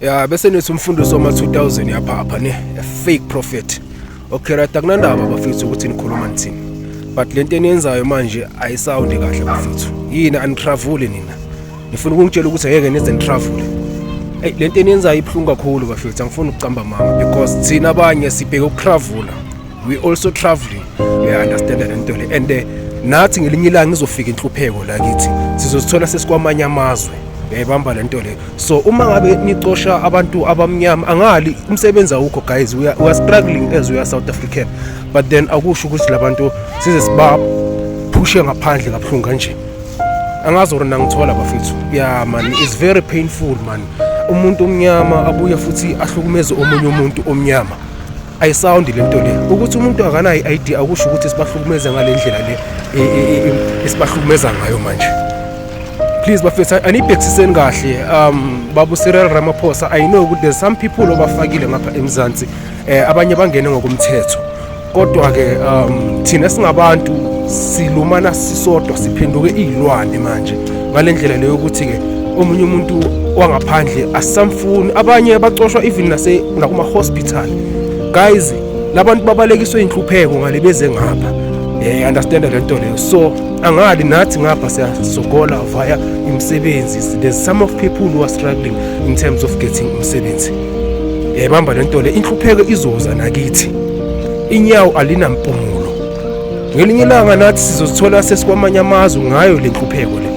ya bese nethi umfundisi wama 2000 yaphapha ne a fake prophet okay right akunandaba bafethu ukuthi nikhuluma nithini but lento eniyenzayo manje ayisawundi kahle bafethu yini anitravule nina nifuna ukungitshela ukuthi ngeke nize nitravule hey lento eniyenzayo ibuhlungu kakhulu bafethu angifuni ukucamba mama because thina abanye sibheke ukutravula we also traveling uyaunderstand le nto le and eh, nathi ngelinye ilanga izofika inhlupheko la kithi sizozithola sesikwamanye amazwe yayibamba le nto le so uma ngabe nicosha abantu abamnyama angali umsebenzi awukho guys we are, we are struggling as we are south african but then akusho ukuthi labantu size sibaphushe ngaphandle kabuhlungu kanje angazi or nangithola bafethu yeah man it's very painful man umuntu omnyama abuye futhi ahlukumeze omunye umuntu omnyama ayisawundi le nto le ukuthi umuntu akanayo i-id akusho ukuthi sibahlukumeze ngale ndlela le e, e, e, esibahlukumeza ngayo manje please bafethu anibhekisiseni kahle um babu Cyril Ramaphosa i know ukuthi there's some people obafakile ngapha eMzansi eh abanye bangene ngokumthetho kodwa ke um thina singabantu silumana sisodwa siphenduke izilwane manje ngale ndlela leyo ukuthi-ke omunye umuntu wangaphandle asamfuni abanye bacoshwa even nase nakuma hospital guys labantu babalekiswe inhlupheko ngale beze ngapha eh understand le nto leyo so angali nathi ngapha siyasokola via imisebenzi there's some of people who are struggling in terms of getting umsebenzi yayibamba le nto le inhlupheko izoza nakithi inyawo alinampumulo ngelinye ilanga nathi sizozithola sesikwamanye amazwe ngayo le nhlupheko le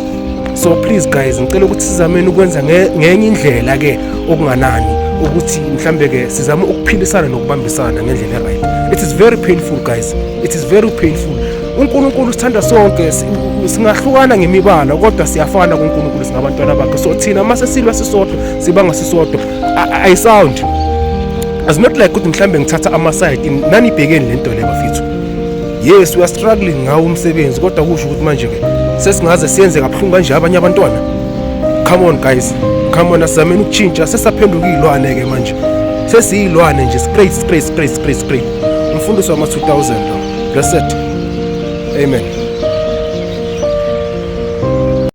so please guys ngicela ukuthi sizameni ukwenza ngenye indlela ke okunganani ukuthi mhlambe ke sizame ukuphilisana nokubambisana ngendlela eright it is very painful guys it is very painful uNkulunkulu sithanda sonke singahlukana ngemibala kodwa siyafana kuNkulunkulu singabantwana bakhe so thina mase silwa sisodwa siba ngasisodwa I, I sound as not like ukuthi mhlambe ngithatha ama side nani ibhekeni lento le bafithu yes we are struggling ngawo umsebenzi kodwa kusho ukuthi manje ke sesingaze siyenze kabuhlungu kanje abanye abantwana come on guys come on asizameni ukutshintsha sesaphenduka iy'lwane ke manje sesiyilwane nje straight straight straight straight straight umfundisi wama 2000 blessed amen